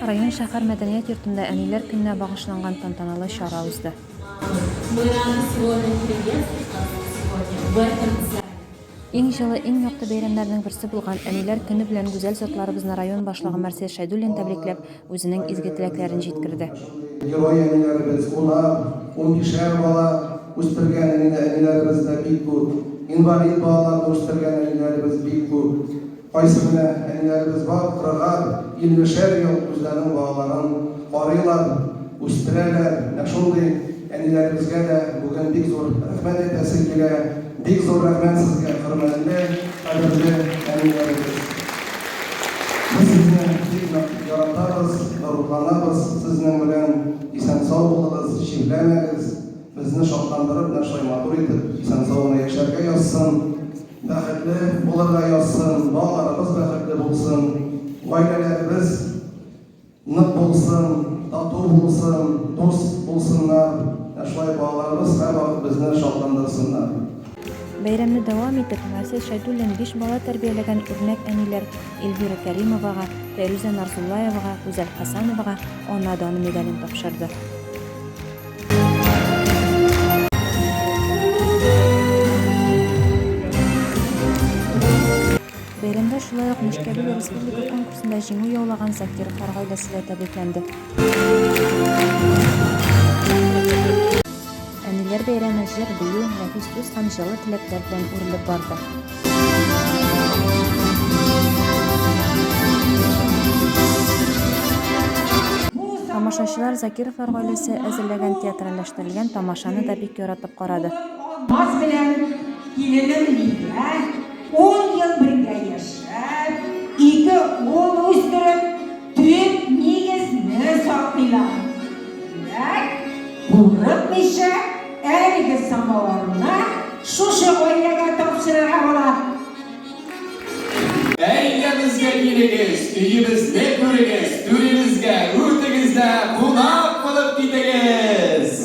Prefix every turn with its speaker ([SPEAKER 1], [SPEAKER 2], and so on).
[SPEAKER 1] Район шәһәр мәдәният йортында Әниләр көненә багышланган тантаналы чара узды. Иң җылы, иң якты бәйрәмнәрнең берсе булган Әниләр көне белән гүзәл затларыбызны район башлыгы Марсель Шәйдуллин тәбрикләп, үзенең изге теләкләрен җиткерде. Герой әниләребез, унар, унбишәр бала үстергән әниләребез дә бик күп. Инвалид балаларны үстергән әниләребез бик күп. Кайсы генә әниләребез бар, кырыгар, иллешәр ел үзләренең балаларын карыйлар, үстерәләр. Менә шундый әниләребезгә дә бүген бик зур рәхмәт әйтәсе килә. Бик зур рәхмәт сезгә, хөрмәтле, кадерле әниләребез! Без сезне бик нык яратабыз, горурланабыз сезнең белән! Исән-сау булыгыз, чирләмәгез! Безне шатландырып, менә шулай матур итеп, исән-сау гына яшәргә язсын! Бәхетле булырга язсын, балаларыбыз бәхетле булсын, гаиләләребез нык булсын, тату булсын, дус булсыннар. Ә шулай балаларыбыз һәрвакыт безне шатландырсыннар. Бәйрәмне дәвам итеп, Гасил Шәйдуллин биш бала тәрбияләгән үрнәк әниләр Эльвира Кәримовага, Фәйрүзә Нарзуллаевага, Гүзәл Хәсәновага Ана даны медален тапшырды. Бәйрәмдә шулай ук Мишкәбил республика конкурсында җиңү яулаган Закировлар гаиләсе дә тәбрикләнде. Әниләр бәйрәме җыр, бию, нәфис сүз һәм җылы теләкләр белән үрелеп барды. Тамашачылар Закировлар гаиләсе әзерләгән театральләштерелгән тамашаны да бик яратып карады. Алмаз белән киленем Лилия 10 ел бергә яшәп, ике ул үстереп, Төп нигез не саклыйлар. Димәк, курыкмыйча, әлеге самавырны шушы гаиләгә тапшырырга була. Гаиләбезгә килегез, өебезне күрегез, түребезгә, үрдегезгә кунак булып китегез!